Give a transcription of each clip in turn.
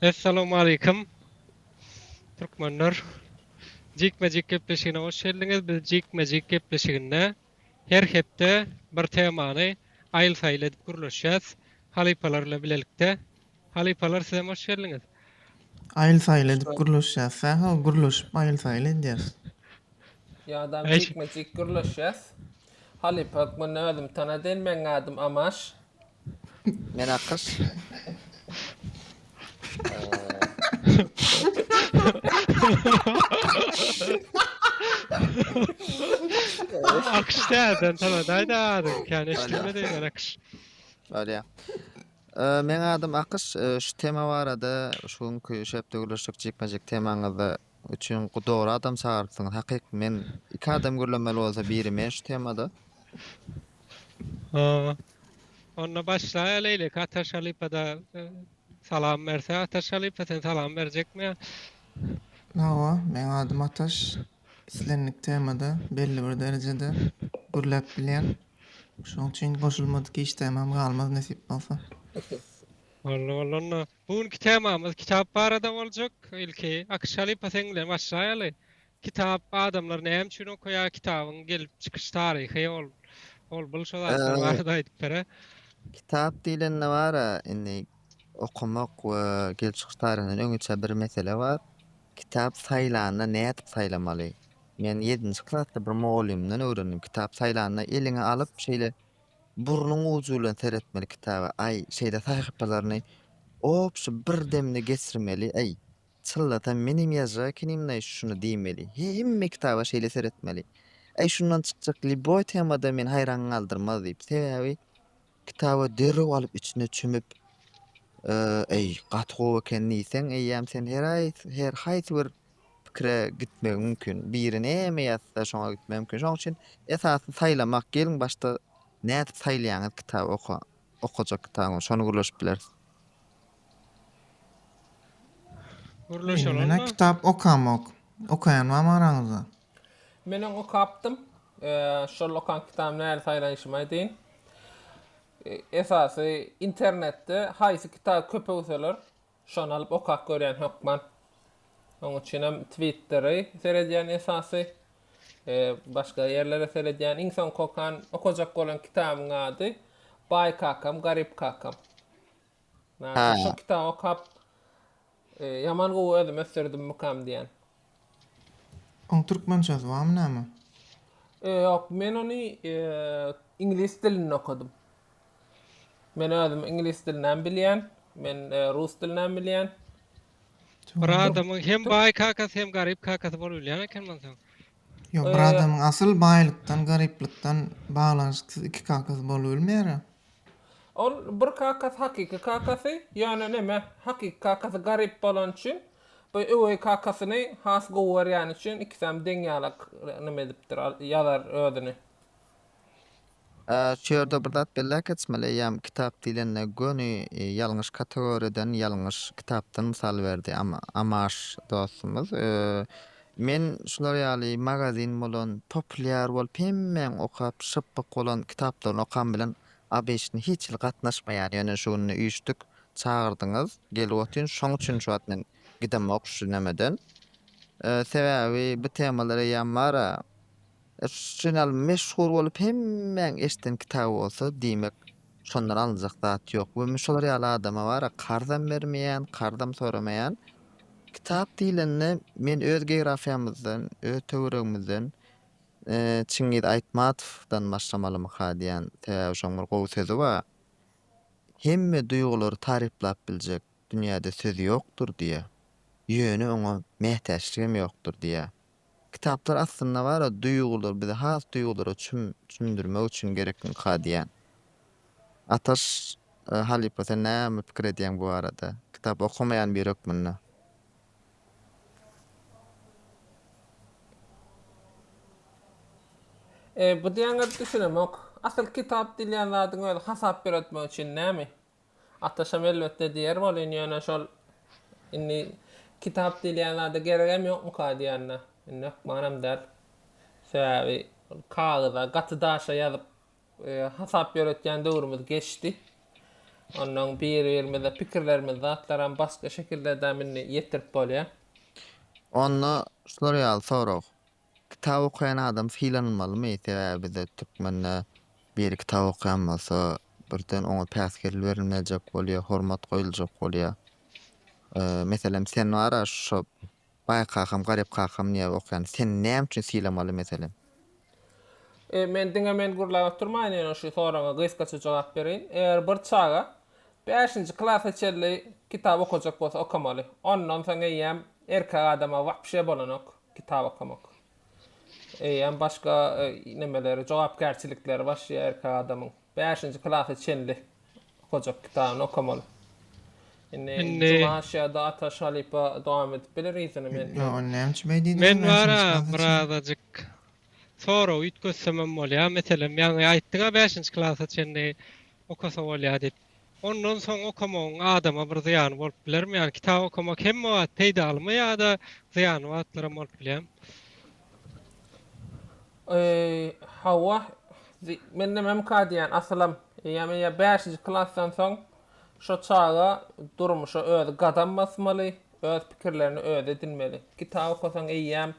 Essalamualeýkum Türkmenler jikme-jik gepleşigine hoş geldiňiz. Biz jikme-jik gepleşiginde her hepde bir temany aýyl-saýyl edip gürleşýäs halypalar bilen bilelikde. Halypalar sizem hoş geldiňiz. Aýyl-saýyl edip gürleşýäs. Sähel gürleşip aýyl-saýyl edýäs. Ýa-da jikme-jik gürleşýäs. Halypa hökmünde özüm tanadýyn. Meň adym Amaş. Men Akkaş. Akış däl, sen sana daýda adyň. Kän eşitme diýen akış. Bolýar. Ee, Meň adym Akış. Ee, Şu tema barada şu günki şepde gürleşjek jikme-jik temaňyzda Üçin dogry adam çagyrypsyňyz hakyk men iki adam gürlemeli bolsa biri men şu temada. Hoo. Onda başlaýa Leýlik Atar Şalypada salam berse Atar Şalypa sen salam berjekmi ýa. Hawa meň adym Ataş islendik temada belli bir derejede gürläp bilýän. Şoň üçin goşulmadyk işdämem galmaz nesip bolsa. Boldy boldy onda. Bu günki temamyz kitap barada boljak. Ilki Akyş halypa seň bilen başlaýaly. Kitap adamlar näme üçin okaýar, kitabyň gelip çykyş taryhy ol ol bul şo zatlar barada aýdyp bere. Kitap diýlende bara indi okamak we gelip çykyş taryhyndan öňüçe bir mesele bar. Kitap saýlanda nädip saýlamaly? Men ýedinji klasda bir mugallymdan öwrendim. Kitap saýlanda eliňe alyp şeýle Burnuň ujy bilen seretmeli kitaba, aý, şeýle sahypalaryny obşy bir demde geçirmeli, aý, çynlasam menem ýazjak ekenim-laý şuny diýmeli, hemme kitaba şeýle seretmeli, aý, şundan çykjak lýuboý tema-da meni haýran galdyrmaz diýip, sebäbi kitaba derrew alyp içine çümüp, aý, gaty gowy eken diýseň, eýýäm sen her aý, her haýsy bir pikire gitmegi mümkin. Biri näme ýazsa, şoňa gitmegi mümkin. Şoň üçin esasy saýlamak. Geliň başda nädip saýlaýaňyz kitaby oka, okajak kitabyňyzy. Şony gürleşip bileris. Gürleşeli onda. Menä kitap okamok. Okaýan barmy araňyzda? Menem okapdym. Şol okan kitabymy nähili saýlanyşymy aýdaýyn. Esasy internetde haýsy kitaby köp öwseler, Şony alyp okap görýän hökman. Oň üçinem Twitteri seredýän esasy. E, başga ýerlere seredýän. Iň soňky okan, okajak bolan kitabyň ady Baý kakam, garyp kakam. Näçe şu kitaby okap e, ýaman gowy özüm ösdürdümmikam diýen. Oň türkmençesi barmy näme? Ýok, men ony iňlis dilinde okadym. Men özüm iňlis dilini hem bilýän, men rus dilini hem bilýän. Bir adamyň hem baý kakasy hem garyp kakasy bolubilýän eken monsoň. Ýok, bir adamyň asyl baýlykdan, garyplykdan baglanyşyksyz iki kakasy bolubilmeýär-ä. Ol bir kakasy hakyky kakasy, ýöne neme, hakyky kakasy garyp bolany üçin, bu öweý kakasyny has gowy görýäni üçin ikisem deň ýalak neme edipdir, ýazar özüni. Şu ýerde bir zat belläp geçmeli, eýýäm kitap diýlende göni ýalňyş kategoriýadan, ýalňyş kitapdan mysal berdi Amaş dostumyz. Men şular ýaly magazin bolan, populýar bolup hemmäň okap, şypbyk bolan kitaplaryny okam bilen ABŞ-na hiç hili gatnaşmaýan, ýöne şu günde üýşdük, çagyrdyňyz, gelip otyryn, şoň üçin şu wagt men gidemok şu nämeden. Sebäbi bu temalar eýýäm bar-a. Žurnal meşhur bolup hemmäň eşden kitaby bolsa diýmek şondan alynjak zat ýok we men şolar ýaly adama bara karzam bermeýän karzam soramaýan kitap diýlende men öz geografiýamyzdan öz töweregimizden Çingiz Aýtmatowdan başlamalymyka diýýän sebäbi şoň bir gowy sözi bar hemme duýgulary taryplap biljek dünýäde söz ýokdur diýýär ýöne oňa mätäçligem ýokdur diýýär Kitaplar aslynda bar-a duýgular bizi has duýgulara çüm çümdürmek üçin gerekmikä diýýän. Ataş halypa sen näme pikir edýäň bu barada? Kitap okamaýan biri hökmünde. Eee bu diýýäňe düşünemok. Asyl kitap diýilýän zadyň özi hasap ýöretmek üçin näme? Ataşam elbetde diýer welin ýöne şol indi kitap diýilýän zada geregem ýokmuka diýende indi hökmanam däl. Sebäbi ol kagyza, gaty daşa ýazyp hasap ýöretýän döwrümiz geçdi. Onnoň biri-birimize pikirlerimizi, zatlaram başga şekildedem indi ýetirip bolýar. Onda şular ýaly sorag. Kitap okaýan adam sylanylmalymy? Sebäbi bizde türkmende biri kitap okaýan bolsa, birden oňa päsgel berilmejek bolýar, hormat goýuljak bolýar. Meselem, sen bar-a şo Baý kakam, Garyp kakam diýip okaýan. Seni näme üçin sylamaly meselem? E, men diňe men gürläp oturmaýyn, ýöne şu soraga gysgaça jogap bereýin. Eger bir çaga bäşinji klasa çenli kitap okajak bolsa okamaly. Ondan soň eýýäm erkek adama wapşe bolanok. kitap okamak. Eýýäm başga e, nemeleri, jogapkärçilikleri başlaýar erkek adamyň. 5-nji klasa çenli okajak kitabyny okamaly. Indi Indi- Juma aşýada Ata Şalypa dowam edip biler yzyny men. Ýa ol näme üçin beýdi diýdim Men wara beşinji klasa çenli. birazajyk sorag üýtgetsemem bolýar. Meselem, ýaňy aýtdyň-a 5-nji klasa çenli okasa bolýar diýip. Ondan soň okamagyň adama bir zyýany bolup bilermi? Ýagny kitap okamak hemme wagt peýdalymy ýa-da zyýanly wagtlar hem bolup bilýärmi? Hawa, mende mümka diýýän asylam. Eýýäm ýa bäşinji klasdan soň şo çaga durmuşa özi gadam basmaly, öz pikirlerini özi edinmeli. Kitap okasaň eýýäm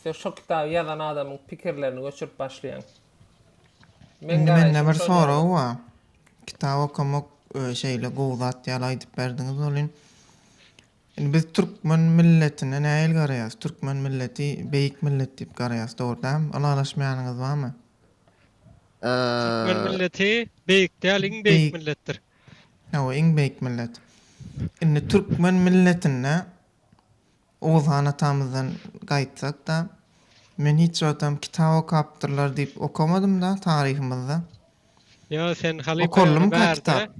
sen şo kitaby ýazan adamyň pikirlerini göçürip başlaýaň. Indi mende bir sorag bar. Kitap okamak şeýle gowy zat ýaly aýdyp berdiňiz welin, indi biz türkmen milletine nähili garaýarys? Türkmen milleti beýik millet diýip garaýarys, dogry dälmi? Ylalaşmaýanyňyz barmy? Türkmen milleti beýik däl, iň beýik milletdir. Hawa, iň beýik millet. Indi türkmen milletinde Oguzhan atamyzdan gaýtsak-da, men hiç wagtam kitap okapdyrlar diýip okamadym-da taryhymyzda. Ýo, sen halypa ýöne Okalymyka bärde, kitap?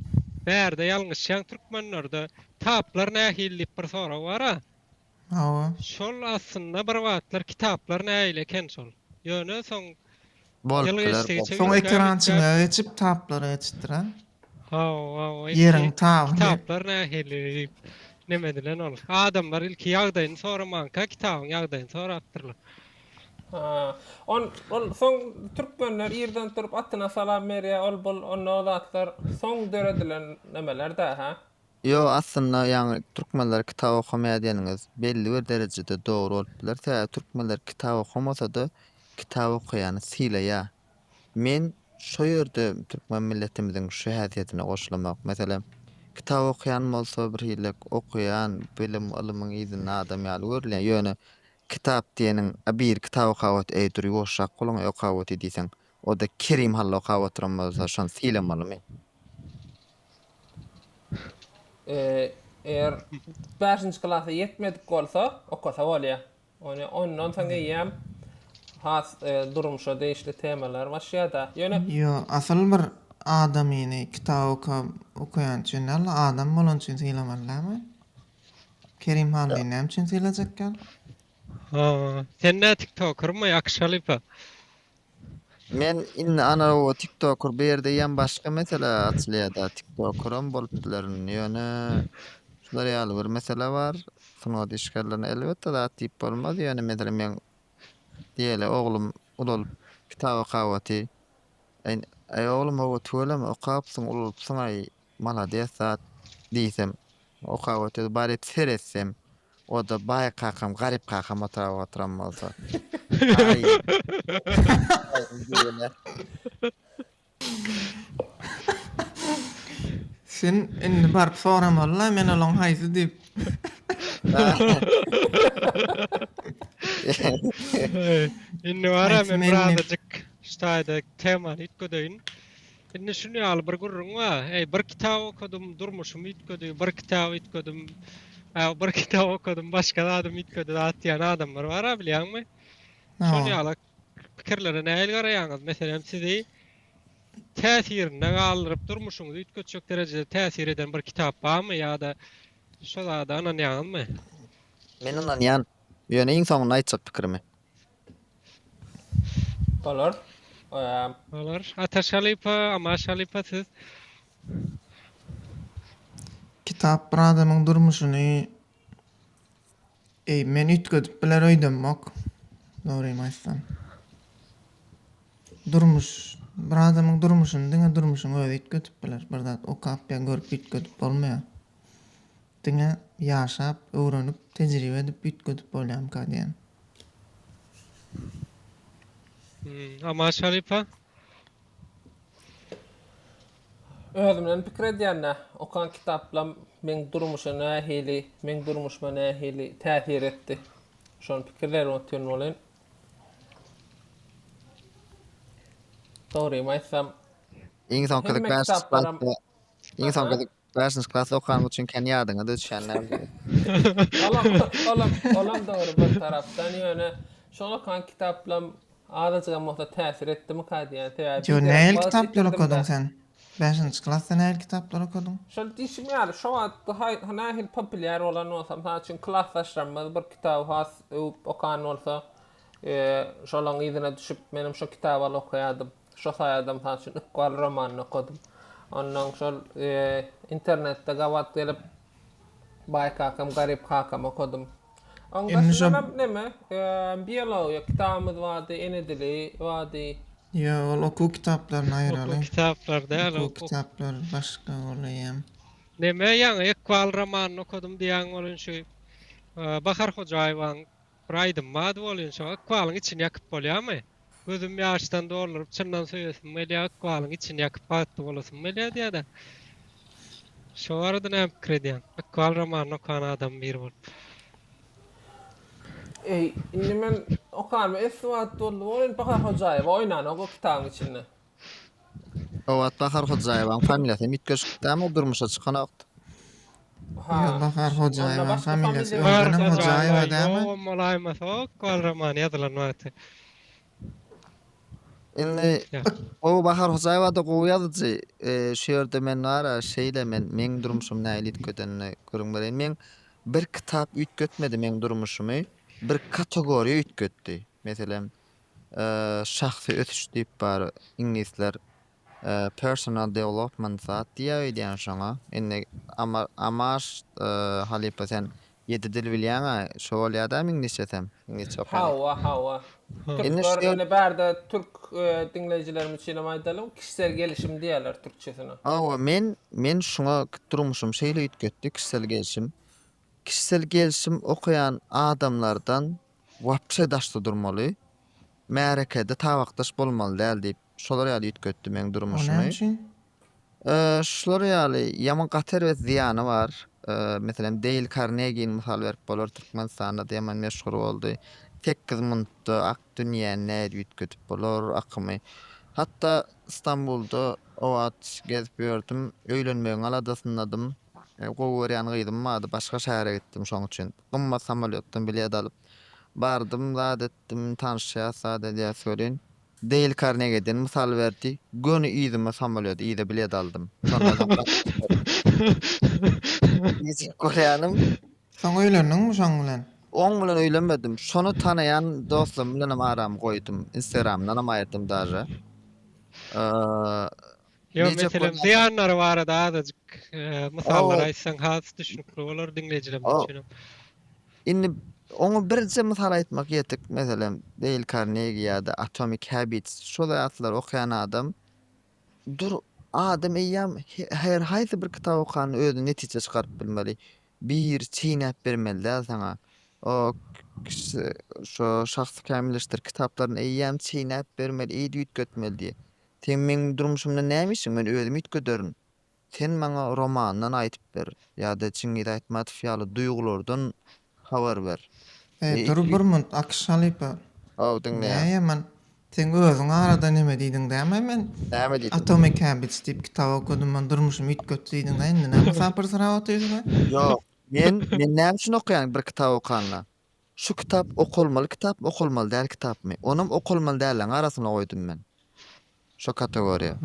bärde ýalňyşýaň türkmenlerde taplar nähili diýip bir sorag bar-a. Hawa. Şol aslynda bir wagtlar kitaplar nähili eken şol. Ýöne soň Ýyl Bolupdylar geçdi, geçdi, Soň üýtgäp, ekrançylyga üýtgäp. geçip kitaplara geçipdir a. Hawa, hawa, ilki Ýeriň tabyny. kitaplar nähili diýip neme edilen ol. Adamlar ilki ýagdaýyny soramanka kitabyň ýagdaýyny sorapdyrlar. Ha. On, ol soň türkmenler irden turup atyna salam berýär, ol-bul, onda o zatlar soň döredilen nemeler-dä, hä? Ýok, aslynda ýaňy türkmenler kitap okamaýar diýeniňiz belli bir derejede dogry bolup biler, sebäbi türkmenler kitap okamasa-da kitap okaýany sylaýar. Men şo ýerde türkmen milletimiziň şu häsiýetine goşulamok. Meselem, kitap okaýan bolsa bir hilek okaýan, bilim, ylymyň yzynda adam ýaly görülýär. Ýöne kitap diýeniň, a bir kitap okap ot, eý dur ýuwaşrak boluň-eý okap otyr diýseň, O-da Kerim hally okap oturan bolsa, şony sylamalymy? Eger bäşinji klasa ýetmedik bolsa, okasa bolýar. Ýöne ondan soň eýýäm has durmuşa degişli temalar başlaýar-da. Ýöne. Ýo, asyl bir adamyny kitap okap, okaýan üçin däl-de, adam bolany üçin sylamaly dälmi? Kerim hallyny näme üçin sylajakýar? Haa sen nä tiktokermy akşalypa. Men indi ana o tiktoker bu ýerde ýan başga mesele açylýar da tiktokeram bolup bilerin ýöne şular ýaly bir mesele bar sungat işgärlerine elbetde zat diýip bolmaz ýöne meselem men diýeli oglum ulalyp kitap okawaty aý aý oglum hawa tüweleme okapsyň ulalypsyň aý Malades zat diýsem okap otyr baryp seretsem oda baý kakam garyp kakam otyr otyran bolsa aý Sen indi baryp soramalla men olaň haýsy diýip. Indi bara men birazajyk şu taýda temany üýtgedeýin. Indi şuny ýaly bir gürrüň bar. Eý, bir kitap okadym, durmuşym üýtgedi, bir kitap üýtgedim, äw, bir kitap okadym, başga zadym üýtgedi zat diýen adamlar bar-a, bilýäňmi? Şol ýaly pikirlere nähili garaýaňyz? Meselem, sizi täsirinde galdyryp, durmuşyňyzy üýtgetjek derejede täsir eden bir kitap barmy ýa-da şo zada ynanýaňyzmy? Men ynanýan. Ýöne iň soňunda aýtjak pikirimi. Bolar. Eee. Bolar. Ataş halypa, Amaş halypa siz. Kitap bir adamyň durmuşyny Eý, men üýtgedip biler öýdemok. Dogrymy aýtsam. Durmuş, bir adamyň durmuşyny diňe durmuşyň özi üýtgedip biler. Bir zat okap ýa görüp üýtgedip bolmaýar. Diňe ýaşap, öwrenip, tejribe edip üýtgedip bolýamyka diýen. Aman Şaripa. Özümden pikir edýände, okan kitaplam meň durmuşa nähili, meň durmuşyma nähili täsir etdi? Şony pikirlärem otyryn welin, dogrymy aýtsam, Iň soňky hemme kitaplarym, Iň soňky Bäşinji klasda okan üçin kän ýadyňa-da düşýän däldir. Olam, olam, olam dogry bir tarapdan, ýöne şol okan kitaplam azajygam bolsa täsir etdimika diýýän. Sebäbi Ýo, nähili kitaplary okadyň sen? Bäşinji klasda nähili kitaplary okadyň? Şol diýşim ýaly, şo wagt haý, nähili populýar bolan bolsam, mysal üçin, klasdaşlarymyz bir kitaby has öwüp okan bolsa, Şolaryň yzyna düşüp, menem şo kitabaly okaýardym. Şo saýada, mysal üçin, Ykbal romanyny okadym. Ondan şol internetde gabat gelip, Baý kakam, garyp kakam okadym. Oň daşyndanam neme, biologiýa kitabymyz bardy, ene dili bardy. Ýa, ol okuw kitaplaryny aýraly. Okuw kitaplar däl. Okuw kitaplar başga bolaýýam. Neme, ýaňy Ykbal romanyny okadym diýýäň bolan şu Bahar Hojaýewanyň Bir aýdym bady bolyn şo ykbalyň içini ýakyp bolýamy? Gözüm ýaşdan dolduryp çyndan söýesim gelýä ykbalyň içini ýakyp bagtly bolasym gelýä diýädä. Şo barada näme pikir edýäň? Ykbal romanyny okan adam biri bolup. Eý indi men okanma esli wagt boldy bolyn Bahar Hojaýewa oýnan o kitabyň içinde. Obat Bahar Hojaýewanyň familiýasy hem üýtgeşikdämi, o durmuşa çykanokdy. Ha. Ýok, Bahar Hojaýewanyň familiýasy öňdenem Hojaýewa dälmi? Ýogam bolaýmasok, Kowal romany ýazylan wagty. Indi gowy Bahar Hojaýewa-da gowy ýazyjy. Şu ýerde men bar-a, şeýle men, meň durmuşym nähili üýtgedenini gürrüň bereýin. Meň bir kitap üýtgetmedi meň durmuşymy, bir kategoriýa üýtgetdi. Meselem, şahsy ösüş diýip bar iňlisler personal development zat diýýä öýdýän şoňa indi Amar halypa sen ýedi dil bilýäňä şo bolýa dämi iňlisçesem iňlisçe okan Hawa hawa türkler indi bärde türk diňleýjilerimiz üçinem aýdalyň kişisel gelişim diýýäler türkçesine Hawa men men şuňa durmuşym şeýle üýtgetdi kişisel gelişim Kişisel gelşim okaýan adamlardan wapşe daşda durmaly. Märekede tabakdaş bolmaly däl diýip, şolar ýaly üýtgetdi meň durmuşymy. O näme üçin? Şular ýaly ýaman gaty erbet zyýany bar. Meselem, Deýl Karnegini mysal berip bolar, Türkmenistanda da ýaman meşhur boldy. Tekkiz muntda ak dünýäni nädip üýtgedip bolar, akymy. Hatda Stambulda o wagt gezip ýördüm, öýlenmegiň aladasyndadym. Gowy görýän gyzym bardy, başga şähere gitdim, şoň üçin gymmat samolýotdan bilet alyp bardym, zat etdim, tanyşýas, zat edýäs welin, Deýl Karnegiden mysal berdi, göni yzyma samolýot, yza bilet aldym, şondan soň Nijek görýänim. Soň öýlendiňmi şoň bilen? Oň bilen öýlenmedim, şony tanaýan dostlarym bilenem aramy goýdum, instagramyndanam aýyrdym daže, Ýok, meselem zyýanlary barada azajyk mysallar aýtsaň has düşnükli bolar diňleýjilerimiz üçin hem. Indi oňa birje mysal aýtmak ýetik, meselem Deýl Karnegi ýa-da Atomic Habits şo zatlary okaýan adam dur adam eýýam her haýsy bir kitaby okanda özüne netije çykaryp bilmeli. Bir çeýnäp bermeli däl saňa. O şo Şahsy kämilleşdir kitaplaryny eýýäm çeýnäp bermeli, eýdi üýtgetmeli diýýär. Seň meň durmuşymda näme işiň men özüm üýtgederin. Sen maňa romandan aýdyp ber ýa-da Çingiz Aýtmatow ýaly duýgulardan habar ber. Heý dur bir munt Akyş halypa. Haw diňleýän. Näýemen seň özüň arada neme diýdiň däme men Näme diýdim? Atomic Habits diýip kitap okadym men durmuşymy üýtgetdi diýdiňä indi näme sapyrsyrap otyrsyňa. Ýok men men näme üçin okaýan bir kitap okanda. Şu kitap okalmaly kitapmy okalmaly däl kitapmy onam okalmaly dälleriň arasyna goýdum men şo kategoriýa.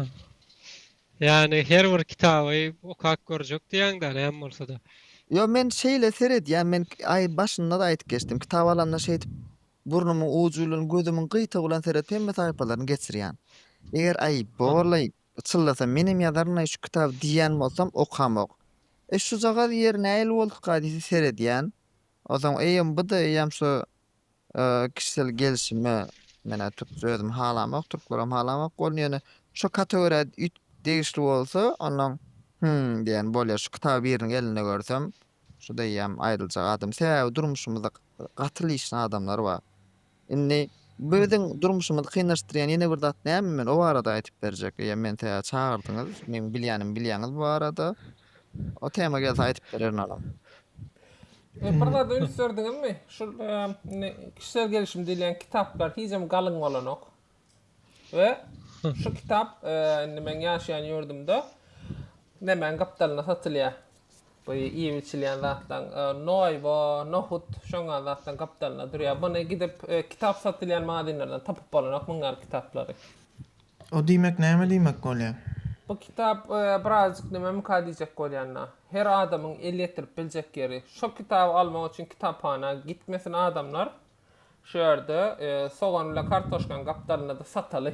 Ýagny her bir kitaby okap görjek diýýäňdä näme bolsada. Ýok men şeýle seredýän men aý başynda-da aýdyp geçdim kitap alanda şeýdip burnumyň ujy bilen gözümiň gyýtagy bilen seredip hemme sahypalaryny geçirýän. Eger aý borlaý çyllasa menem ýazarynaý şu kitaby diýýän bolsam okamok. E şujagaz ýeri nähili bolduka diýip seredýän. Onsoň eýýäm bu-da eýýäm şu kişisel gelşime menä türkçe özüm halamok, türklerem halamok bolny ýöne şo kategoriýa üýtgip degişli bolsa onnoň hümm diýen bolýar şu kitaby biriniň elinde görsem şuda eýýäm aýdyljak adam sebäbi durmuşymyzda gaty lyşny adamlar bar Indi biziň durmuşymyzy kynlaşdyrýan ýene bir zat näme? Men o barada aýdyp berjek. Eýýäm meni täze çagyrdyňyz. Meň bilýänimi bilýäňiz bu barada. O tema gelse aýdyp bererin onam. E, bir zada üns berdiňizmi? Şu e, indi kişisel gelişim diýilýän kitaplar hiç hem galyň bolanok. We şu kitap indi meň ýaşaýan ýurdumda nemäň gapdalynda satylýar. Bu iýip içilýän zatlaň noýba, nohut şoňa zatlaň gapdalynda durýar. Buny gidip kitap satylýan maginlerden tapyp bolanok muň ýaly kitaplary. O diýmek näme diýmek bolýar? Bu kitap birazjyk näme myka diýjek bolýanda. Her adamyň el ýetirip biljek ýeri. Şo kitaby almak üçin kitaphana gitmesin adamlar. Şu ýerde sogan bilen kartoşkany gapdalynda-da sataly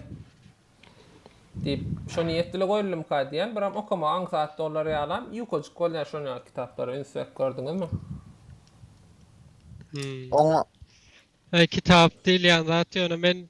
diýip, şo niýet bile goýuldymyka diýýän. Biram okamagy aňsat bolar ýalam, ýukajyk bolýar şon ýaly kitaplara üns berip gördüňizmi? Oňa. Kitap diýilýän zat ýöne men.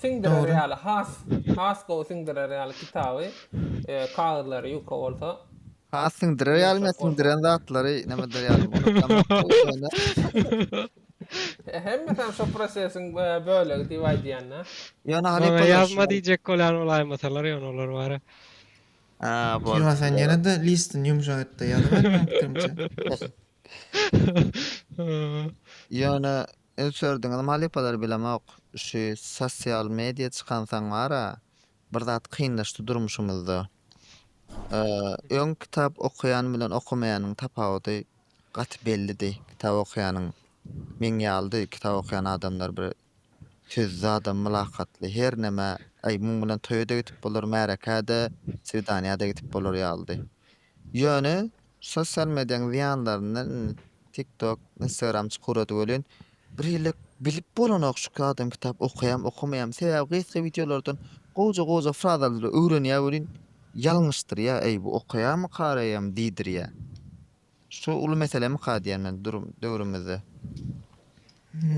Siňdirer ýaly has has gowy siňdirer ýaly kitaby kagyzlary ýuka bolsa. Has siňdirer ýaly me siňdiren zatlary nämedir ýaly bolupdyr. Hemmesem şo prosesiň bölegi diýip aýdýanda. Ýöne Harry Potter. Ýazma diýjek bolýan bolaýmasalar ýöne olar bara. Şiwa sen ýene-de listini ýumşak etde ýazyber meň pikirimçe. Ýöne öçerdiňiz malypalar bilemok şu sosial media çykansaň bara bir zat kynlaşdy durmuşymyzda. Öň kitap okaýan bilen okamaýanyň tapawudy gaty bellidi kitap okaýanyň meň ýalydy kitap okaýan adamlar bir Sözli adam mylakatly her nämä Aý, muň bilen toýa-da gidip bolar, märekä-de, swidaniýa-da gidip bolar ýalydy. Ýöne sosial mediýaň zyýanlaryndan indi TikTok, Instagram çykurady welin, birhili bilip bolanok şu adam kitap okaýam, okamaýam. Sebäbi gysga wideolardan gowja-gowja frazalary öwrenýär welin, ýalňyşdyrýar, Aý, bu okaýarmy, karaýarmy diýdirýär. Su uly meselemika diýýän durum döwrümizde.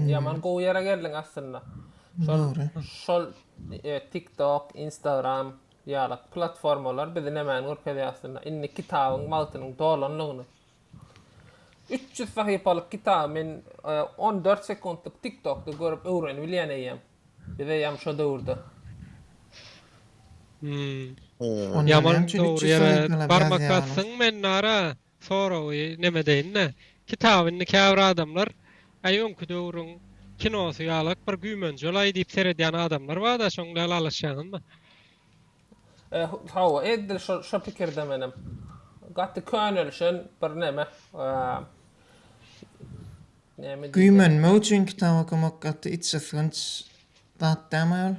Ýaman gowy ýere geldiň aslynda. Şol şol TikTok, Instagram ýaly platformalar bizi nämäni görkezýär aslynda? Indi kitabyň wagtynyň dolanlygyny. Üç ýüz sahypalyk kitaby men on dört sekuntlyk TikTokda görüp öwrenibilýän eýýäm. Bize ýam şo döwürde. Hmm. Onda Ýaman näme üçin dogry içişlik ýere etmeler barmak ýazýar olar? basdyň men nara soragy neme deýin-de. Kitaby indi käbir adamlar äý öňki döwrüň kinosy ýalak bir güýmenjelaý diýip seredýän adamlar bar-da şoň bilen alyşýaňyzmy? E, hawa, edil şo şo pikirde menem. Gaty könelişen bir neme. Eee. Güýmenmek üçin kitap okamak gaty içgysgynç zat dälmi aýol?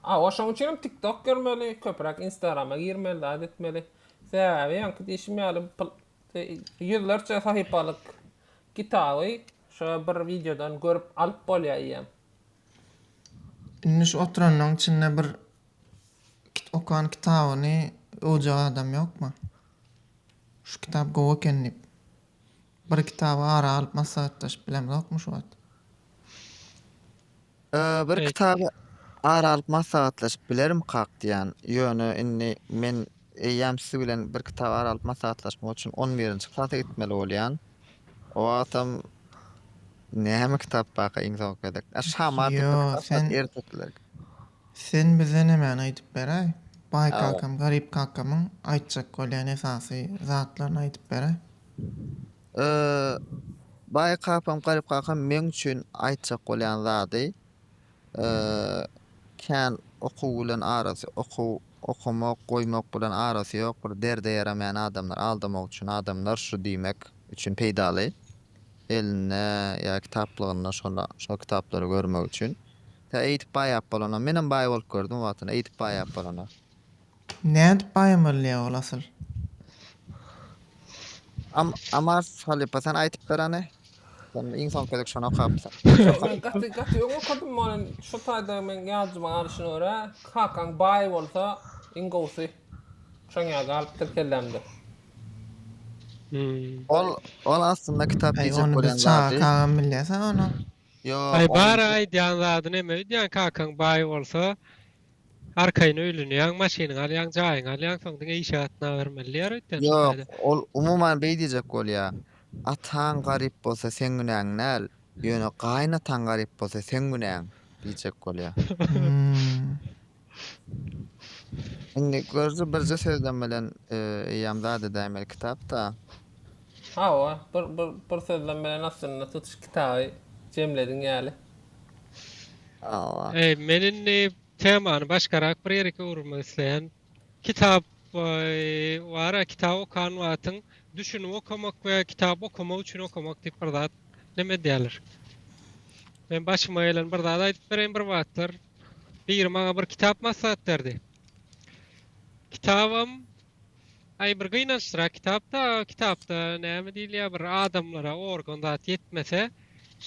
Hawa şoň üçinem tiktok görmeli, köpräk instagrama girmeli zat etmeli. Sebäbi öňki diýşim ýaly ýüzlerçe sahypalyk kitaby şo bir wideodan görüp alyp bolýa eýýäm. Indi şu oturanlaň içinde bir okan kitabyny öwjek adam ýokmy? Şu kitap gowy eken diýip. Bir kitaby ara alyp maslahatlaşyp bilemzokmy şu wagt? Bir Eee. kitaby ara alyp maslahatlaşyp bilerim kak diýýän. Ýöne indi men eýýäm siz bilen bir kitaby ara alyp maslahatlaşmak üçin on birinji klasa gitmeli bolýan. O wagtam näme kitap barka iň soňky gezek? A şamat Ýo, sen- ertekilerki. Sen bize nämäni aýdyp beräý? Baý kakam garyp kakamyň aýtjak bolýan esasy zatlaryny aýdyp beräý? Yy, baý kakam garyp kakam meň üçin aýtjak bolýan zady, yy, kän okuw bilen arasy, okuw okamak, goýmak bilen arasy ýok, bir derde ýaramaýan adamlar, aldamak üçin adamlar şu diýmek üçin peýdaly. Elinde ýa kitaplygynda şola, şol kitaplary görmek üçin. Tä eýdip baýap bolana. Menem baý bolup gördüm o wagtynda eýdip baýap bolana. Nädip baý bolýa ol asyl? Am Amars halypa sen aýtyp ber hany. Sen iň soňky gezek şony okapsyň. Ýok men gaty gaty öň okadym ony şu taýda meň ýadyma galyşyna görä kakaň baý bolsa iň gowusy şoň ýaly galypdyr kellämde. Ol ol aslynda kitap Aý diýjek ony biz bolýan çaga zady. kagam bilýäs-ä ony. Aý bar aýdýan zady neme öýdýän kakaň baý bolsa arkaýyn öýlenýäň maşynyňy alýaň jaýyňy alýaň soň diňe işe gatnabermeli diýer öýtýän şu taýda. Ýok ol umuman beý diýjek bolýa ataň garyp bolsa seň günäň däl ýöne gaýynataň garyp bolsa seň günäň diýjek bolýa. Indi görzi birje sözden bilen eýýäm zat edäýmeli kitapda. Hawa, bir bir bir sözden bilen aslynda tutuş kitaby jemlediň ýaly. Hawa. Eý, men indi temany başgarak bir ýere öwürmek isleýän. Kitap bar-a, kitap okan wagtyň düşünip okamak we kitap okamak üçin okamak diýip bir zat neme edýärler. Men başyma gelen bir zat aýdyp bereýin bir wagtlar. Biri maňa bir kitap maslahat berdi. Kitabam aý bir gynançlyrak kitapda, kitapda näme diýilýär bir adamlara organ zat ýetmese,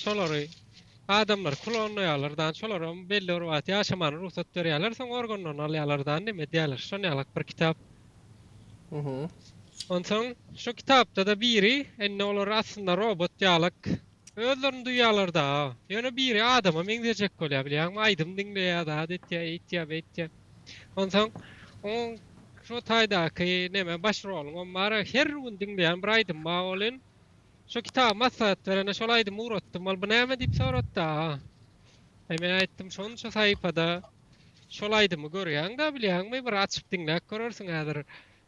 şolary adamlar klonlaýarlar dan, şolaram belli bir wagt ýaşamana rugsat berýärler, soň organlaryny alýarlar dan näme edýärler, şon ýalak bir kitap. Onsoň şu kitapda-da biri indi olar aslynda robot ýalak Özlerini duýýalar daa. Ýöne biri adama meňzejek bolýar bilýäňmi, aýdym diňleýär, zat etýär, eýtýär, beýtýär. Onsoň oň şo taýdaky neme baş roluňam bar, her gün diňleýän bir aýdym bar welin, şo kitaby maslahat berene şol aýdymy ugratdym, ol bu näme diýip sorady daa. Eý men aýtdym, şonça saýpada şol aýdymy görýäň-dä bilýäňmi, bir açyp diňläp görersiň häzir.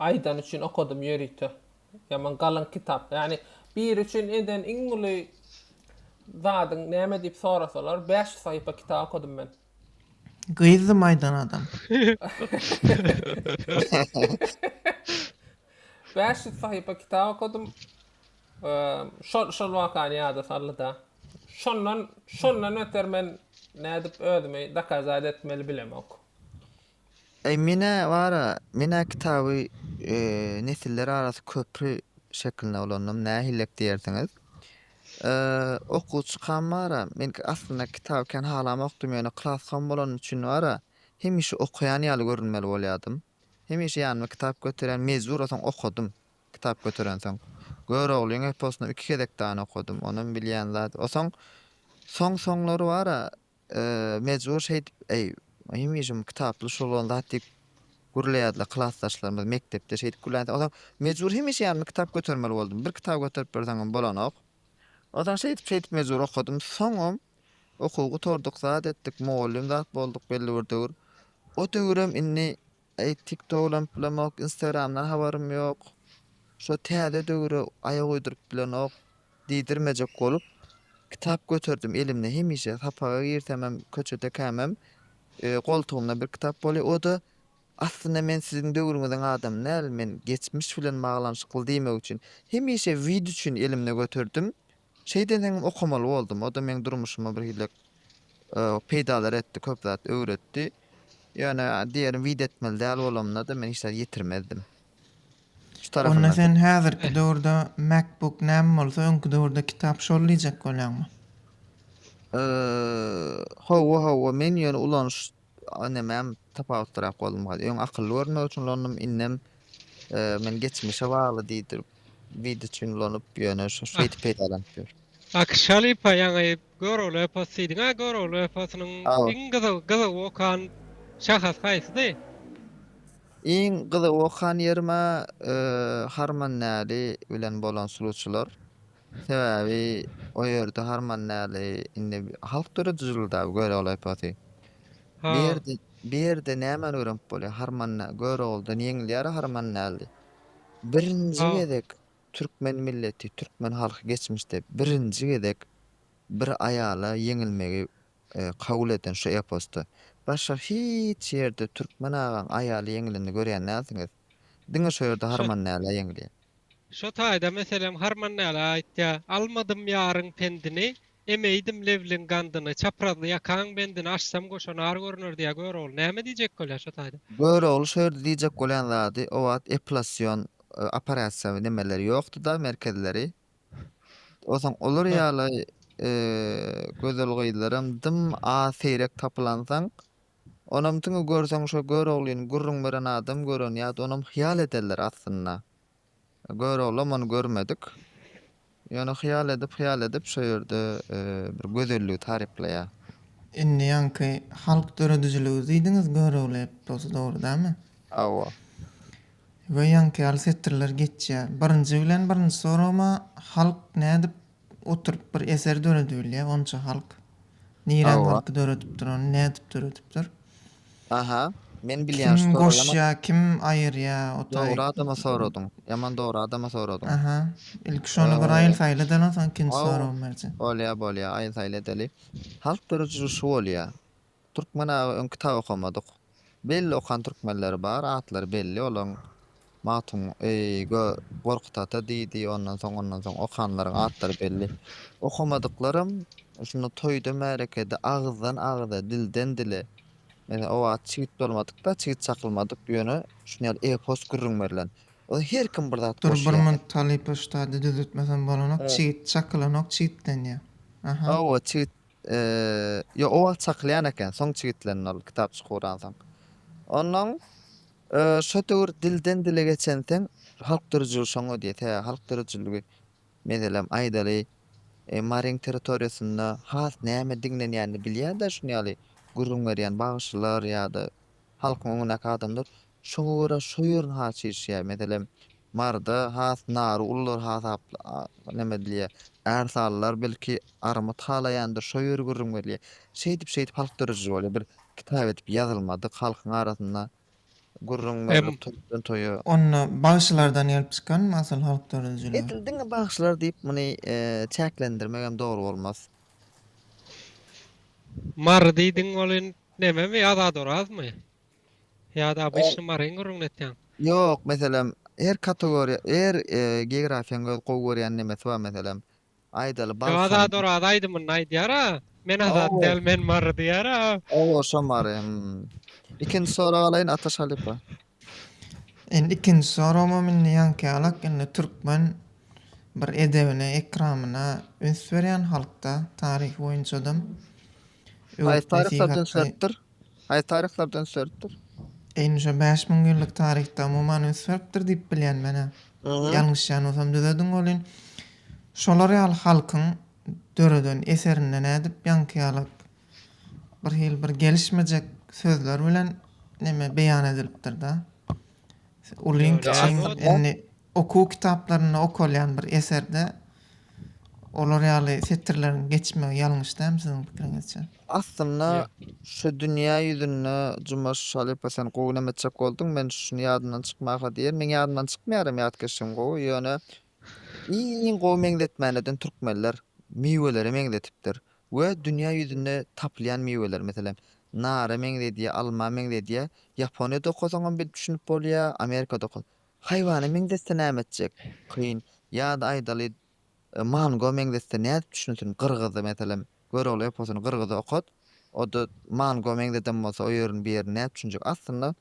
Aýdany üçin okadym ýörite. Ýaman galyň kitap. Ýagny biri üçin eden iň uly zadyň näme diýip sorasalar bäş ýüz saýypa kitap okadym men. Gyzdym aýdan adam. Bäş ýüz sahypa kitap okadym. Şol şol wakany ýada saldy-da. Şondan şondan öter men nädip özümi dokazat etmeli bilemok. Eý menä bara menä kitaby nesiller arasy köpri şeklinde ulandym nähillek diýersiňiz. Okuwçykam bara men aslynda kitaby kän halamokdym ýöne klaskam bolany üçin bara hemişe okaýan ýaly görünmeli bolýadym. Hemişe ýanyma kitap göterýän mejbur o soň okadym kitap göterensoň. Göroglyň eposyny iki gezek dany okadym onam bilýän zat o soň soň soňlary bara Mejbur şeýdip, Eý, hemişem kitaply şul bolan zat diýip gürleýärdiler klasdaşlarymyz mekdepde şeýdip gürlänsoň, onsoň mejbur hemişe ýanyma kitap götermeli boldum. Bir kitap göterip berseňem bolanok. Onsoň şeýdip-şeýdip mejbur okadym. Soňam okuw gutardyk, zat etdik, mugallym zat bolduk belli bir döwür. O döwürem indi Eý tiktokdan pulamok instagramdan habarym ýok şo täze döwüre aýak uýduryp bilenok diýdirmejek bolup kitap göterdim elimde hemişe sapaga girsemem köçede kämem goltugymda bir kitap bolýa oda aslynda men siziň döwrüňiziň adamy däl men geçmiş bilen baglanyşykly diýmek üçin hemişe wid üçin elimde göterdim Şeýt eseňem okamaly boldum. O-da meň durmuşyma birhilek peýdalary etdi, köp zat öwretdi. Ýöne diýerin wide etmeli däl bolamyna-da men hiç zat ýetirmezdim. Şu tarapyndan. Onda sen häzirki döwürde MacBook näme bolsa öňki döwürde kitap şol diýjek bolýaňmy? Hawa, hawa, men ýöne ulanyş Inemem tapawutlyrak boldum gaty. Öň akylly görünmek üçin ulanyp, indem men geçmişe bagly diýdir. Wid üçin ulanyp, ýöne şu şeýdip peýdalanyp ýör. Akşalipa ýaňy Görogly eposy diýdiň. A Görogly eposynyň iň gyzyl gyzyl okan şahasy haýsydy? Iň gyzyl okan ýerim-ä Harman Näli bilen bolan suluçylar. Sebäbi o ýerde harman däli indi halk döredijiligi dabi göreolaypasy. Ha. Bir ýerde bir ýerde nämäni öwrenip bolýar harman dä göreoldan ýeňilýär harman däli. Birinji Ha. gezek türkmen milleti türkmen halky geçmişde birinji gezek bir aýala ýeňilmegi kabul eden şu eposda. Başga hiç ýerde türkmen agaň aýaly ýeňilende görýän dälsiňiz. Diňe şo ýerde Harman Näle ýeňilýär. Şo taýda meselem Harman Näle aýtýar, Almadym ýaryň pendini, Emeýdim lewliň gandyny, Çaprazly ýakaň bendini Açsam goşa nar görüner diýýär. Görogly näme diýjek bolýar şo taýda? Görogly şo ýerde diýjek bolýan zady, o wagt epilasýon operasiýa nemeleri ýokdy-da, merkezleri. Onsoň olar ýaly gözel gyzlaram dym az, seýrek tapylansoň, Onam tüňi görseň şo Göroglyny gürrüň beren adam gören ýat onam hyýal ederler aslynda. Göroglam ony görmedik. Ýöne hyýal edip hyýal edip şo ýerde bir gözelligi taryplaýar. Indi ýaňky halk döredijiligi diýdiňiz Görogly eposy dogry dämi? Hawa. We ýaňky ýaly setirler geçýär. Birinji bilen birinji soragym-a halk nädip Oturyp bir eser döredibilýä onça halk. Nirän Hawa. halk döredipdir ony nädip döredipdir. Aha. Men bilýän Kim şu soragam. goşýa kim aýyrýa otaý. Dogry adama soradyň. Ýaman dogry adama soradyň. Aha. Ilki şony bir aýyl saýyl edeli onsoň ikinji Haw. soragymy berjek. Bolýa bolýa aýyl saýyl edeli. Halk dörediji şu bolýa. Türkmen aga öň kitap okamadyk. Belli okan türkmenleri bar atlary belli olaň Magtun eý gö Gorkut ata diýdi ondan soň ondan soň okanlaryň atlary belli. Okamadyklaram şunda toýda märekede agyzdan agyza dilden dile Meselen o wagt çigit bolmadykda çigit çakylmadyk ýöne şuny ýaly epos gürrüň berlen. Onda her kim bir zat Dur bir goşýar. talypa ştady düzetmesem bolanok Çigit çakylanok çigitlenýär. Aha. Hawa çigit Ýok, o wagt çakylýan eken, soň çigitlendi ol, kitapçyk guransoň. Onnoň şo döwür dilden-dile geçenseň, halk dörüjiligi şoňa diýse, halk dörüjiligi meselem, aýdaly, Maryň territoriýasynda has näme diňlenýänini bilýär-de, şuny ýaly gürrüň berýän bagşylar ýa-da halkyň öňündäki adamlar Şoňa görä şo ýerini has çişýär. Meselem, Maryda has nary ulylar hasap neme edilýär. Ärsalylar belki armyt halaýandyr, şo ýeri gürrüň berilýär. Şeýdip şeýdip halk dörejiji bolýar. Bir kitap edip ýazylmadyk halkyň arasynda gürrüň berilip toýdan toýa. Onda bagşylardan gelip çykanmy asyl halk döredijiler? Edil diňe bagşylar diýip muny çäklendirmegem dogry bolmaz. Mary diýdiň ol in nememi Azat Orazmy? Ýa-da obýektni maryň gürrüňini etýäň. Ýok, meselem, her kategoriýa, her geografiýaň öz gowy görýän nemesi bar, meselem, aýdaly, Balkan. Ýok, Azat Oraz aýdymynda aýdýar-a, Men Azat däl, men Mary diýýär-a. Oba, şo Mary, hum. Ikinji sorag alaýyn, Ataş halypa. Indi ikinji soragymam indi ýaňky-ýalak, indi türkmen bir edebine, ekramyna üns berýän halk-da, taryhy boýunçadam. Haýsy taryhda üns beripdir? Haýsy taryhlarda üns beripdir? Eýni şo bäş müň ýyllyk taryhda umuman üns beripdir diýip bilýän men-ä. Ýalňyşýan bolsam düzediň welin, şolar ýaly halkyň döreden eserinde nädip ýaňky ýaly birhili bir gelişmejek sözler bilen neme beýan edilipdir-dä. Ulyň kiçiň indi okuw kitaplarynda okalýan bir eserde olar ýaly setirleriň geçmegi ýalňyş dämi siziň pikiriňizçe? Aslynda şu dünýä ýüzünde Jumaş halypa sen gowy näme etjek bolduň men şuny ýadymdan çykmaka diýen meň ýadymdan çykmaýar hem ýatkeşligim gowy ýöne Iň gowy meňzetmälerden türkmenler miwelere meňzetipdir we dünýä ýüzünde tapylýan miweler, meselem, nara meňzedýär, alma meňzedýär. Ýaponiýada okasaňam bilip düşünip bolýar, Amerikada oka. Haýwana meňzetse näme etjek? Kyn. Ýa-da aýdaly, mango meňzetse nädip düşünsin? Gyrgyzy, meselem, Görogly eposyny gyrgyza okat, o-da mango meňzeden bolsa o ýerini, bu ýerini nädip düşünjek? Aslynda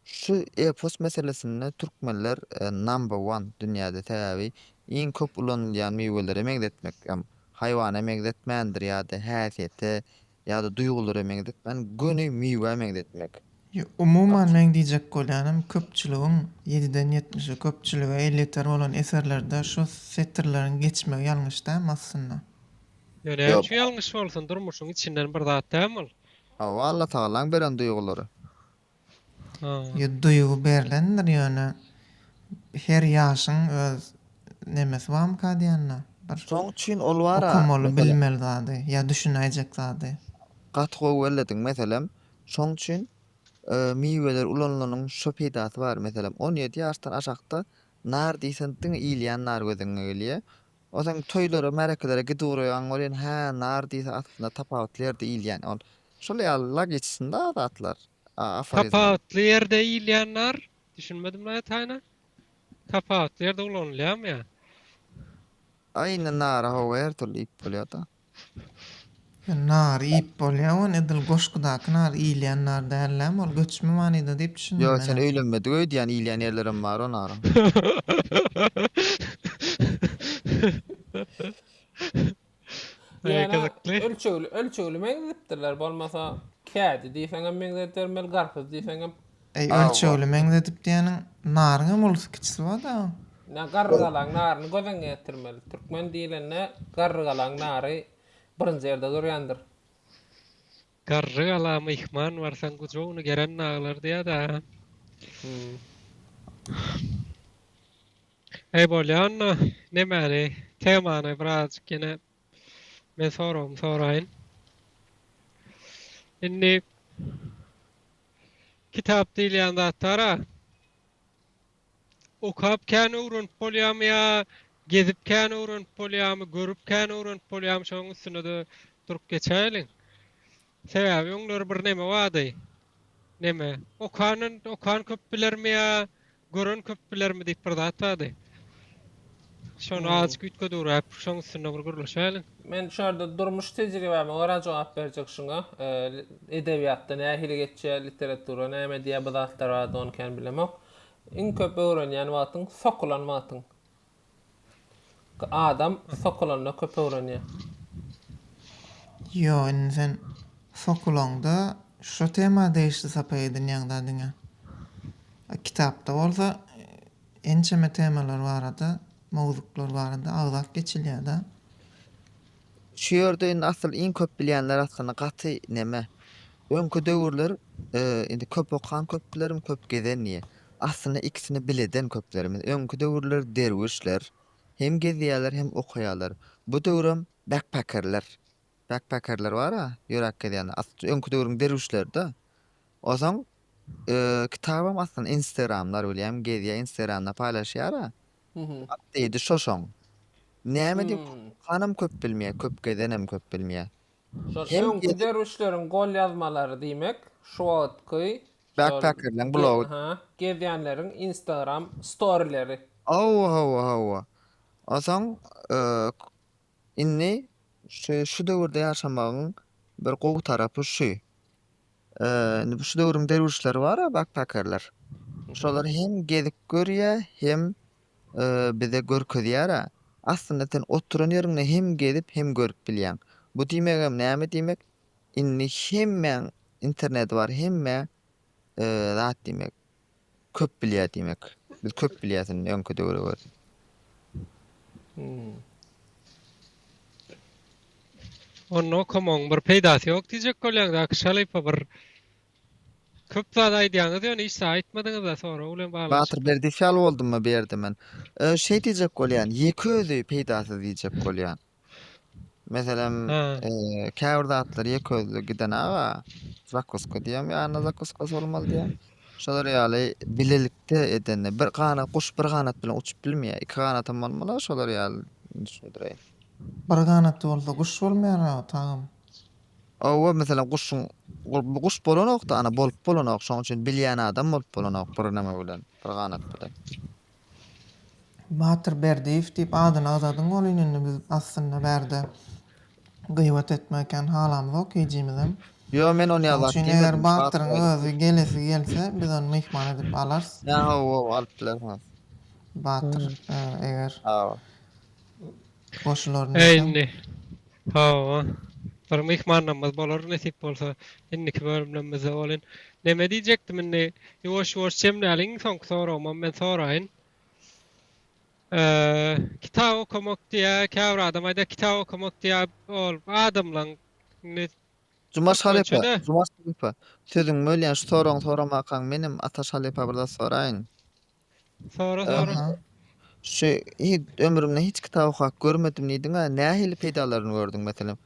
Şu epos meselesinde türkmenler number one dünýäde sebäbi iň köp ulanylýan miwelere meňzetmek hem haýwana meňzetmändir ýada häsiýete ýada duýgulara meňzetmän göni miwä meňzetmek. Ýa umuman meň diýjek bolýanym köpçüligiň ýediden ýetmişe köpçülige elýeter bolan eserlerde şu setirleriň geçmegi ýalňyş dämi aslynda? Ýa näme üçin ýalňyş bolsun durmuşyň içinden bir zat dämi ol? Hawa Allatagalaň beren duýgulary. Ýa duýgy berlendir ýöne her ýaşyň öz nemesi bamyka diýanda bir Şoň üçin ol bar-a okamaly mesele. bilmeli zady ýa düşünäýjek zady. Gaty gowy bellediň meselem şoň üçin miweler ulanylanyň şo peýdasy bar meselem on ýedi ýaşdan aşakda nar diýsen diňe iýilýän nar gözüňe gelýä Ol sen toýlara, märekelere gidip uraýaň welin hä, nar diýse aslynda tapawutly ýerde iýilýän ol. Şol ýaly logiçsinda zatlar, aforizmler. Tapawutly ýerde iýilýän nar? Düşünmedim laý taýyna. Tapawutly ýerde ulanylýamy ýa? Aýna nara hawa her türlü iýip bolýada. Sen nary iýip bolýa ony edil goşgudaky nar iýilýän nar dällämi ol göçme manyda diýip düşündim Ýo sen menem. öýlenmedik öýdýän iýilýän ýerlerem bar o naryň. Ýöne ölçegli ölçegli meňzedipdirler bolmasa kädi diýseňem meňzedermeli garpyz diýseňem Eý ölçegli meňzedip diýeniň naryňam ulysy kiçisi bar dagy. Ine garrygalaň naryny göz öňüne getirmeli. Türkmen diýlende garrygalaň nary birinji ýerde durýandyr. Garrygala myhman barsaň gujagyny geren naglar diýýär dagy. Eý bolýanda nemäli temany birazajyk ýene men soragymy soraýyn. Indi Kitap diýilýän zatlar-a okap kän öwrenip bolýamy ýa gezip kän öwrenip bolýamy, görüp kän öwrenip bolýamy şonuň üstünde-de durup geçäýeliň. Sebäbi öňler bir neme bardy. Neme? Okandan okan köp bilermi ýa Gören köp bilermi diýip bir zat bardy. Şony azajyk üýtgedüwräp, şoň üstünde bir gürleşäliň. Men şu ýerde durmuş tejribäme görä jogap berjek şuňa. Edebiýatda nähili geçýär, literatura näme diýýär, bu zatlar barada ony kän bilemok. Iň köp öwrenýän wagtyň, sokulan wagtyň. Adam sokulanda köp öwrenýär. Ýok indi sen sokulanda şo tema degişli sapak edinýäň da diňe. Kitapda bolsa ençeme temalar barada, mowzuklar barada agzap geçilýär da. Şu ýerde indi asyl iň köp bilýänler aslynda gaty neme. Öňki döwürler indi köp okan köp bilerim köp gezen diýe. Aslynda ikisini bileden köplerimiz. Öňki döwürler derwüşler hem gezýäler hem okaýalar. Bu döwrem bekpekerler. Bekpekerler bara ýöräp gezýänler. Asl öňki döwrüň derwüşlerida. Ozaň kitabam aslynda instagramlar bilýän gezýä instagramda paýlaşýara. At diýdi şoşaň. Näme diýip okanam köp bilmeýär, köp gezenem köp bilmeýär. Şol öňki derwüşleriň golýazmalary diýmek, şu wagtky Backpackerlaň blogy. Hä, gezýänleriň Instagram storileri. Hawa, hawa, hawa. Onsoň Indi şu şu döwürde ýaşamagyň bir gowy tarapy şu. Indi bu şu döwrüň derwüşleri bar-a bakpakerler. Şolar hem gezip görýä, hem bize görkezýär-ä. Aslynda sen oturan ýeriňde hem gezip, hem görüp bilýäň. Bu diýmegem näme diýmek? Indi hemmäň interneti bar, hemmä zat diýmek. köp bilýär diýmek. Biz köp bilýäs indi öňki döwre görä. Onda okamoň bir peýdasy ýok diýjek bolýaň daky şalypa bir köp zat aýdýaňyz ýöne hiç zat aýtmadyňyzda sorag bilen bagly. Batyr berdiýew ýaly boldummy bu ýerde men. Şeý diýjek bolýan, ýeke özi peýdasyz diýjek bolýan. Meselem, käbir zatlar ýekeözli giden aga, zakuska diýem, ýanyna zakuska bolmaly diýem. Şolar ýaly bilelikde edende bir ganat guş bir ganat bilen uçup bilmeýär. Iki ganatam bolmaly, şolar ýaly düşündireýin. Bir ganaty bolsa guş bolmaýar aga tagam. Owa, meselem, guşuň bu guş bolanok-da, ana bolup bolanok. Şonuň üçin bilýän adam bolup bolanok bir näme bilen, bir ganat bilen. Batyr Berdiýew diýip adyny agzadyň welin indi biz aslynda bärde gyýbat etmek ekeni halamyzok hijimizem. Ýo men ony ýazap diýmedim. Şoň üçin eger Batyryň özi gelesi gelse biz ony myhman edip alarys. Ýa hawa alyp bilersiňiz. Batyr eger. Hawa. Indi hawa bir myhmannamyz bolar nesip bolsa indiki bölümlemizde bolin. Neme diýjekdim indi ýuwaş ýuwaş jemläliň soňky soragymam men soraýyn. Kitap okamak diýä käbir adam aýdýa kitap okamak diýä ol adamlaň indi Jumaş halypa, Jumaş halypa, sözüňi bölýän şu soragyňy soramakaň menem Ataş halypa bir zat soraýyn. Sora sora. Aha. Şu hiç ömrümde hiç kitap okap görmedim diýdiň-ä, nähili peýdalaryny gördüň meselem?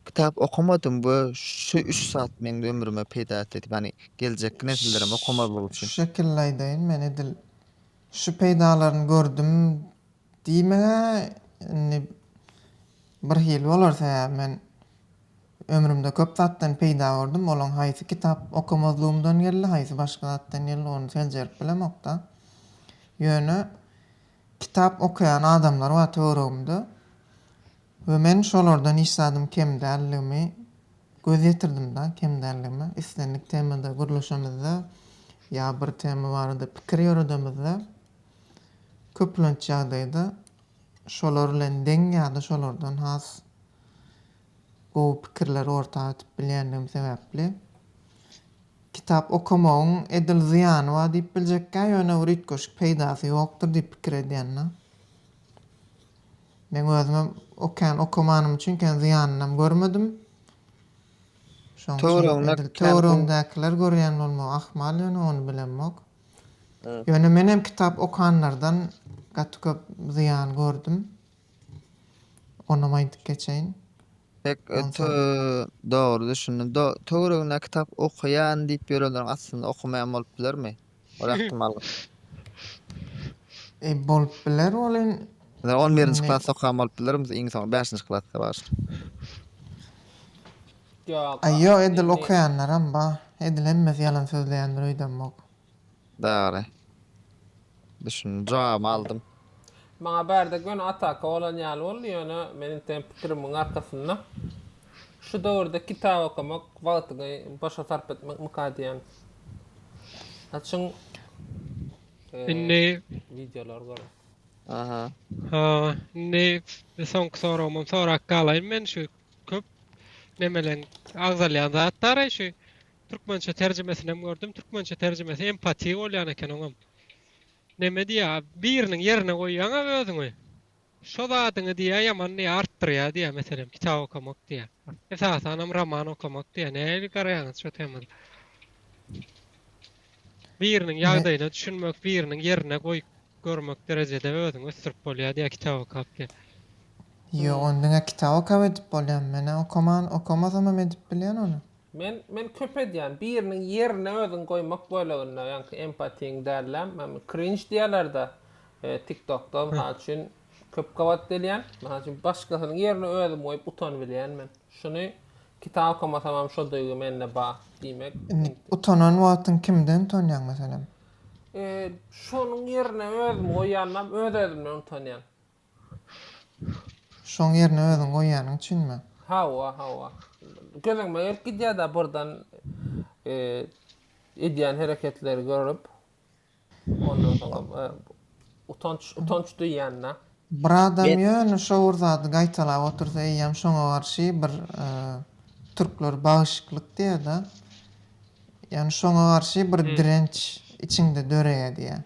Kitap okamadym we şu üç zat meň ömrüme peýda etdi diýip, ýagny geljekki nesillerem okamazlyk Şu üçin. şekilli aýdaýyn, men edil şu peýdalaryny gördüm Diýmegä indi birhili bolar, sebäbi men ömrümde köp zatdan peýda gördüm, olaň haýsy kitap okamazlygymdan geldi, haýsy başga zatdan geldi, ony seljerip bilemok-da. Ýöne kitap okaýan adamlar bar töweregimde we men şolardan hiç zadym kem däldigimi göz ýetirdim-de, kem däldigime. Islendik temada gürleşemizde ýa bir tema barada pikir ýöredemizde, köplenç ýagdaýda şolar bilen deň ýa-da şolardan has gowy pikirleri orta atyp bilýändigim sebäpli kitap okamagyň edil zyýany bar diýip biljekkä, ýöne bir üýtgeşik peýdasy ýokdur diýip pikir edýänna. Meň özümem okean okamanym üçin kän zyýanynam görmedim. Şoň üçin töweregiňdäkiler görýän bolmagy ahmal ýöne ony bilemok. Ýöne menem kitap okanlardan gaty köp zyýan gördüm. Onam aýdyp geçeýin. Pek öte dogry düşündim. Do töwereginde kitap okaýan diýip ýörenleriň aslynda okamaýan bolup bilermi? Ol ähtimal. E, bolup biler ol in. Ýa on birinji klasda okan bolup bilermi iň soňy bäşinji klasda başlap. Aý ýok edil okaýanlaram bar. Edil hemmesi ýalan sözleýändir öýdemok. Dogry. Düşündim. Jogabymy aldym. Maňa bärde göni ataka bolan ýaly boldy ýöne men inteýin pikirimiň arkasynda şu döwürde kitap okamak wagtyňy boşa sarp etmekmika diýýän. Açyň Indi wideolary görüň. Aha. Ha indi soňky soragymam sorap galaýyn men şu köp nemeleň agzalýan zatdary şu türkmençe terjimesinem gördüm türkmençe terjimesi empatiýa bolýan eken oňam neme diýýä biriniň ýerine goýýaňa özüňi şo zadyňy diýýä ýaman diýýä artdyrýa diýýä meselem kitap okamak diýýä esasanam roman okamak diýýä nähili garaýaňyz şo temada Biriniň ýagdaýyna düşünmek, biriniň ýerine goýup görmek derejede özüňi ösdürip bolýar diýýär kitap okap diýip. Ýok, ony diňe kitap okap edip bolýar. Men-ä okaman, okamasamam edip bilýän ony. Men, men köp edýän. Biriniň ýerine özüňi goýmak böleginde, ýaňky empatiýiň däl-ä, krinj diýýärler-dä, TikTok-da, mysal üçin, Köp gabat delýän. Mysal üçin başgasynyň ýerine özümi goýup utanybilýän men. Şuny kitap okamasamam şo duýgy mende bar diýmek. Indi utanan wagtyň kimden utanýaň meselem? Eee şonuň ýerine özümi goýýanymam öz özümden utanýan. Şoň ýerine özüň goýýanyň üçinmi? Hawa hawa. Göz öňüme gelip gidýärda birden eee edýän hereketleri görüp. Ondan soňam utanç utanç duýýanda. Bir adam ýöne şo bir zady gaýtalap otursa eýýäm şoňa garşy bir türkler bagyşyklyk diýerda ýagny şoňa garşy bir direnç içiňde döreýä diýýä.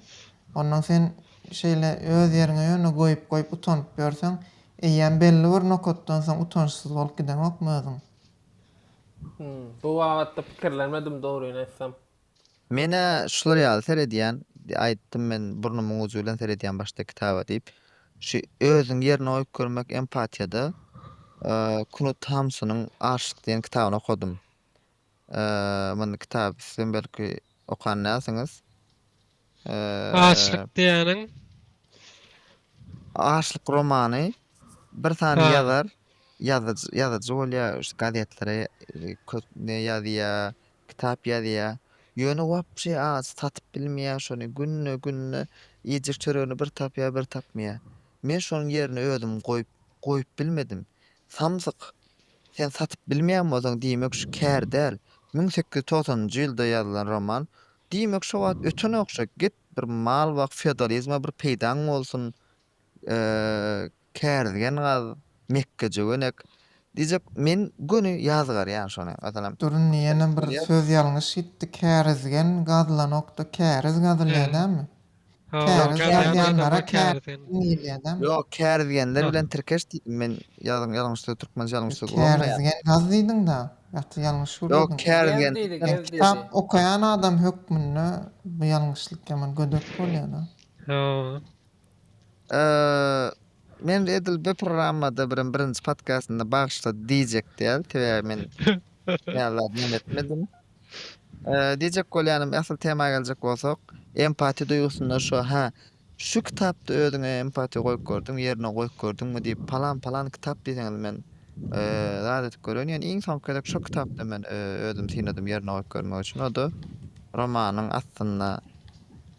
Ondan sen şeýle öz ýeriňe ýöne goýup goýup utanyp ýörseň eýýäm belli bir nokatdan soň utançsyz bolup gideňokmy özüň. Bu babatda pikirlenmedim dogryny aýtsam. Men-ä şular ýaly seredýän, aýtdym men burnumyň ujy bilen seredýän başda kitaba diýip. Şu özüňi ýerine goýup görmek empatiýada Knut Hamsunyň Arşyk diýen kitabyny okadym. Mundy kitaby sizem belki okan dälsiňiz. Açlyk diýýäniň. Açlyk romany bir sany ýazar, ýazyjy, ýazyjy bolýar, gazetlere köp ne ýazýar, kitap ýazýar. Ýöne wapşe aç satyp bilmeýär şony. Günde günde iýjek çöregini bir tapýar, bir tapmaýar. Men şonuň ýerine özüm goýup, goýup bilmedim. Samsyk, sen satyp bilmeýän bolsaň diýmek şu kär däl. Müň sekiz ýüz togsanynjy ýylda ýazylan roman. Diýmek şo wagt öten ogşa git bir mal bak feodalizme bir peýdaň bolsun kärizgen gaz mekge jöwenek diýjek men göni ýazgarýan şony meselem. Durun ýene bir söz ýalňyş gitdi kärizgen gazlanokda käriz gazylýa dälmi. Käriz ýazýanlara käriz diýilýär-dä. Ýok, käriz diýenler bilen tirkeş diýdim men. Ýazyň ýalňyş söz türkmençe ýalňyş söz bolmaýar. Käriz diýen gaz diýdiň-dä. Ýa-da ýalňyş gür diýdiň. Ýok, käriz diýen türkmen kitap. Kitap okaýan adam hökmünde bu ýalňyşlyk ýaman gödek bolýar-da. Men edil bir programmada birem birinji podkastynda bagyşla diýjek däl. Sebäbi men näme zat näme etmedim. Diýjek bolýanym, asyl tema geljek bolsak, empatiýa duýgusynda şu, hä, şu kitapda özüňe empatiýa goýup gördüňmi, ýerine goýup gördüňmi diýip, palan-palan kitap diýseňiz, men zat edip gören, ýöne iň soňky gezek şo kitapda men özümi synadym ýerine goýup görmek üçin, o-da romanyň aslynda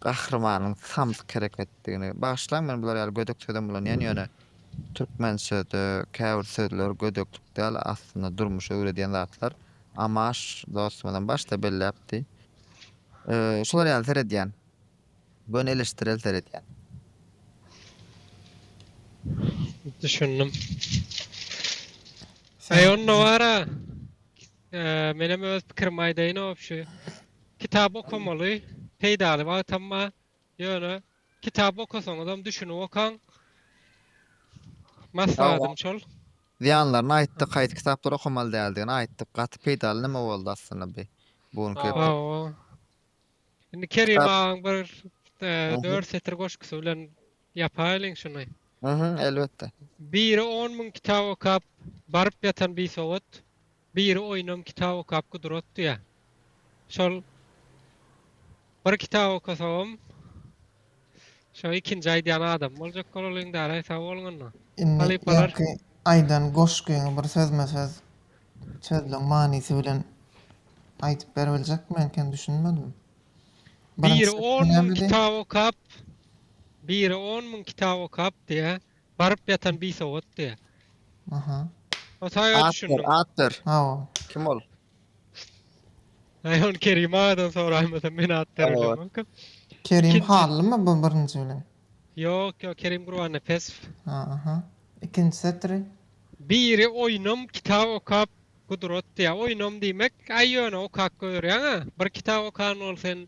gahrymanyň samsyk hereketdigini, bagyşlaň, men bular ýaly gödek sözem ulanýan, ýöne türkmençede käbir sözler gödeklik däl, aslynda durmuşy öwredýän zatlar, Amaş dostumyzam başda belläpdi. Şular ýaly seredýän. Göni eleştirel seredýän. Düşündim. Aý onda bara. Menem öz pikirimi aýdaýyn obşi. Kitap okamaly. Peýdaly wagtam bar. Ýöne kitap okasaňyzam düşünip okaň. Maslahatym şol. Zyýanlaryny aýtdyk haýsy kitaplary okamaly däldigini aýtdyk gaty peýdaly näme boldy aslynda bi bu günki epizod. Hawa. Indi Kerim agaň bir dört setir goşgusy bilen ýapaýlyň şuny. Hä elbetde. Biri on müň kitap okap baryp ýatan bisowat Biri oýnam kitap okap gudratdy ýa. Şol bir kitap okasagam şo ikinji aýdýan adam boljak bolalyň dälaý sag boluň onda. Indi öňki aýdan goşgyňy bir sözme söz sözleň manysy bilen aýdyp beribiljekmi enkem düşünmedim. Biri on müň kitap okap biri on müň kitap okap diýä Baryp ýatan bisowatdy. Aha. O saýa At ber, düşündim. at ber. Hawa. Kim ol? Aý ony Kerim agadan soraýmasam men at bererdim welkam. Kerim İkinci- Hallymy bu birinji bilen? Ýok ýok Kerim Gurbannepesow. Ha, aha. Ikinji setiri. Biri oýnam kitap okap gudrat diýýär. Oýnam diýmek, aý ýöne okap görýäň-ä. Bir kitap okan bol sen.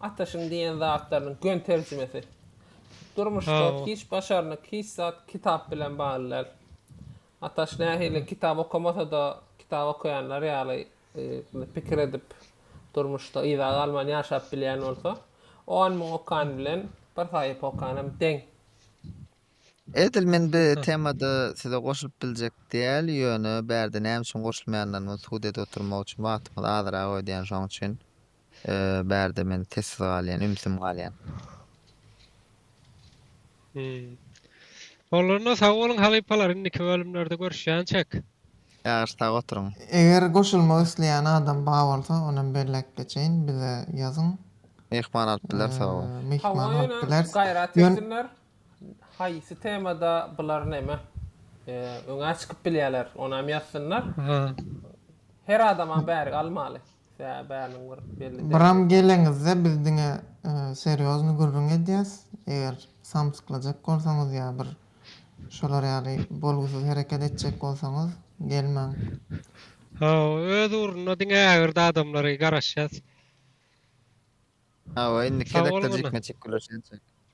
Ataşyn diýen zatlarynyň göni terjimesi. Durmuşda hiç başarnyk, hiç zat kitap bilen bagly däl. Ataş nähili kitap okamasa-da, kitap okaýanlar ýaly pikir edip, durmuşda yza galman ýaşap bilýän bolsa, on müň okan bilen bir sahypa okan hem deň. Edil men bu temada size goşulyp biljek däl, ýöne bärde näme üçin goşulmaýandygymy subut edip oturmak üçin wagtyňyzy azyrak öýdýän şoň üçin. Bärde men sessiz galýan, ümsüm galýan. Hum. Bolanda sag boluň halypalar indiki bölümlerde görüşýänçek. Ýagyş sag oturyň. Eger goşulmak isleýän adam bar bolsa onam belläp geçeýin bize ýazyň. Myhman alyp biler sorawa. Myhman alyp bileris. Hawa ýöne gaýrat etsinler haýsy temada bular neme öňä çykyp bilýäler onam ýazsynlar. Her adamam bärik almaly. Byram geleňizde biz diňe serýozny gürrüň edýäs, eger samsyklajak bolsaňyz ýa bir şolar ýaly bolgusyz hereket etjek bolsaňyz gelmäň. Hawa, öz ugrunda diňe ägirdi adamlary garaşýas. Hawa, indiki redaktor jikme-jik gürleşýänçäk.